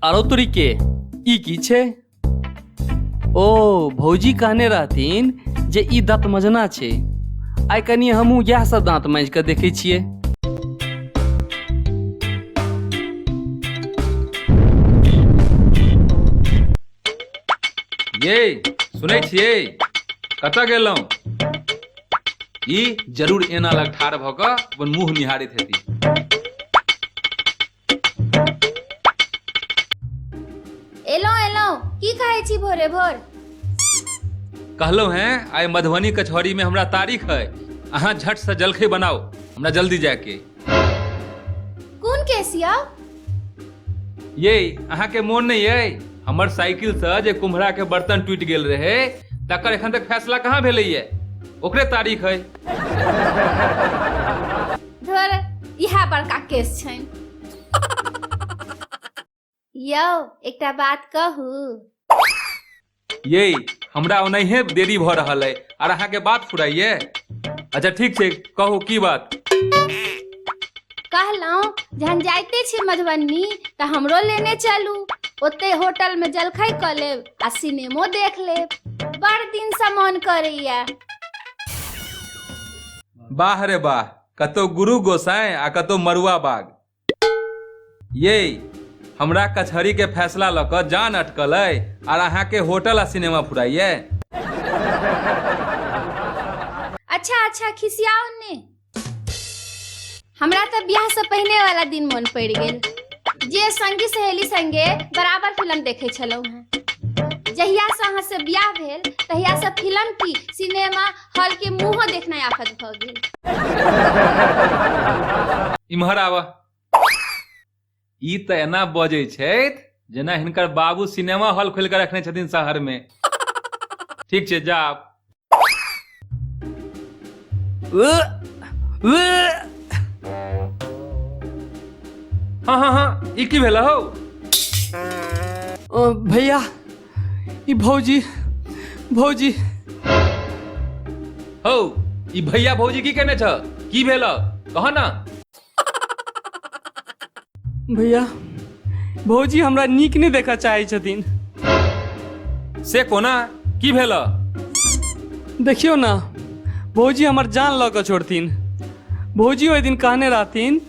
आरो तोरी के ई की छै ओ भौजी कहने रहथिन जे ई दाँत मजना छै आइ कनि हमहूँ इएह सब दाँत माँजि कऽ देखै छियै ये सुनै छियै कतऽ गेलहुँ ई जरूर एना लग ठाढ़ भऽ कऽ अपन मुँह निहारैत हेती एलहुँ एलहुँ की खाइ छी भोरे भोर कहलहुँ हैं आइ मधुबनी कचहरीमे हमरा तारीख है अहाँ झटसँ जलखै बनाउ हमरा जल्दी जायके कोन केसिया ये अहाँके मोन नहीं है हमर साइकिल से जे कुम्हरा के बर्तन टूट गेल रहे तकर एखन तक फैसला कहाँ भेले ये ओकरे तारीख है धर इहा बड़का केस छैन यौ एकटा बात कहू ये हमरा ओनाहिए देरी भऽ रहल अइ आर अहाँके बात फुराइए अच्छा ठीक छै कहू की बात कहलहुँ जहन जाइते छी मधुबनी तऽ हमरो लेने चलू ओते होटल में जलखै कऽ लेब आ सिनेमो देख लेब बड़ दिन से मन करैया वाह रे वाह कतौ गुरु गोसाई आ कतौ मरुआ बाग ये हमरा कचहरी के फैसला लऽ कऽ जान अटकल अइ आर अहाँके होटल आ सिनेमा फुराइए अच्छा अच्छा खिसियाओ ने हमरा तऽ बियाह से पहिने वाला दिन मन पड़ि गेल जे संगी सहेली संगे बराबर फिल्म देखे छलहुँ हेँ जहिया से अहाँ से बियाह भेल तहिया से फिल्म की सिनेमा हलके मुँह देखनाइ आफत भऽ गेल इम्हर आबऽ ई तऽ एना बजै छथि जेना हिनकर बाबू सिनेमा हॉल खोलि कऽ रखने छथिन शहरमे ठीक छै जा आब। हँ हँ हँ ई की भेल हौ ओ भैया ई भौजी भौजी हौ ई भैया भौजी की केने छ की भेल कह ना भैया भौजी हमरा नीक नहि देखऽ चाहै छथिन से कोना की भेल देखियौ ना भौजी हमर जान लऽ कऽ छोड़थिन भौजी ओहि दिन कहने रहथिन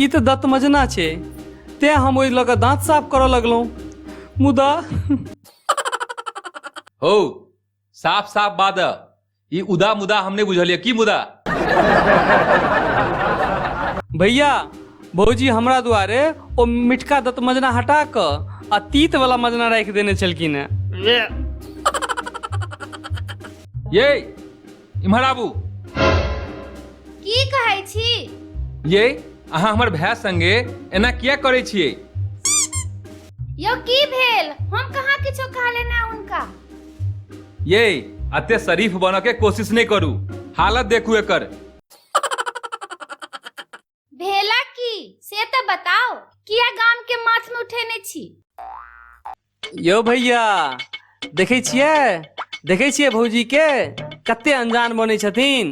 ई तऽ दत्तमजना छै तेँ हम ओहि लऽ कऽ दाँत साफ करऽ लगलहुँ मुदा हो साफ साफ बात है ई उदा मुदा हम नहीं बुझलिए की मुदा भैया भौजी हमरा दुआरे ओ मिठका दत मजना हटा कऽ आ तीत वाला मजना राखि देने छलखिन हेँ ये इम्हर आबू की कहै छी ये अहाँ हमर भाय संगे एना किया करै छियै यौ की भेल हम कहाँ किछो कहले ना उनका ये अते शरीफ बनऽ के कोशिश नहि करू हालत देखू एकर भेला की से तऽ बताओ किया गाम के माथ में उठेने छी यौ भैया देखै छियै देखै छियै भौजी के कते अनजान बनै छथिन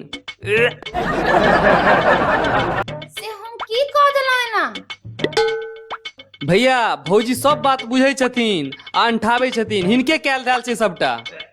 से हम की कह देलहुँ एना भैया भौजी सब बात बुझै छथिन आ अंठाबै छथिन हिनके कयल धयल छै सबटा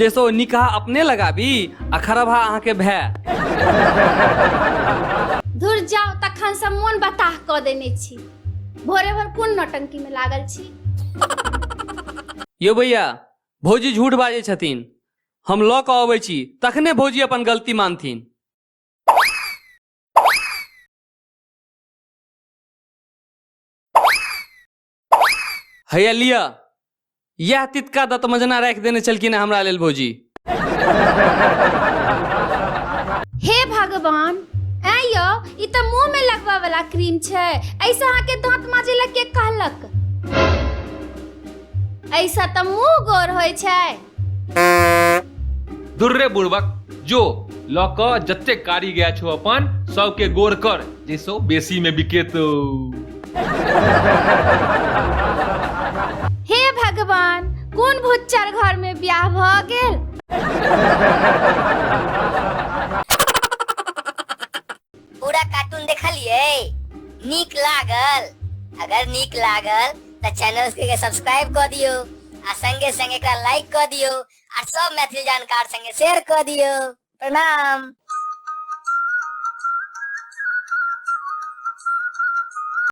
जैसो निकाह अपने लगाबी आ खरबा अहाँके भए धुर जाउ तखन से मोन बताह कऽ देने छी भोरे भोर कोन नौटंकी में लागल छी यौ भैया भौजी झूठ बाजै छथिन हम लऽ कऽ अबै छी तखने भौजी अपन गलती मानथिन हैया लिअ इएह तितका दत्त मजना राखि देने छलखिन हेँ हमरा लेल भौजी हे भगवान ऐ यौ ई तऽ मुंह में लगबा वाला क्रीम छै ऐसे अहाँ के दांत माजे लग के कहलक ऐसा तऽ मुंह गोर होय छै दुर्रे बुड़बक जो लऽ कऽ जते कारी गया छो अपन सबके गोर कर जैसे ओ बेसी में बिकेतो हे भगवान कोन भुच्चर घर में ब्याह भ गेल पूरा कार्टून देखलिए नीक लागल अगर नीक लागल तो चैनल के सब्सक्राइब कर दियो आ संगे संगे एकरा लाइक कर दियो आ सब मैथिली जानकार संगे शेयर कर दियो प्रणाम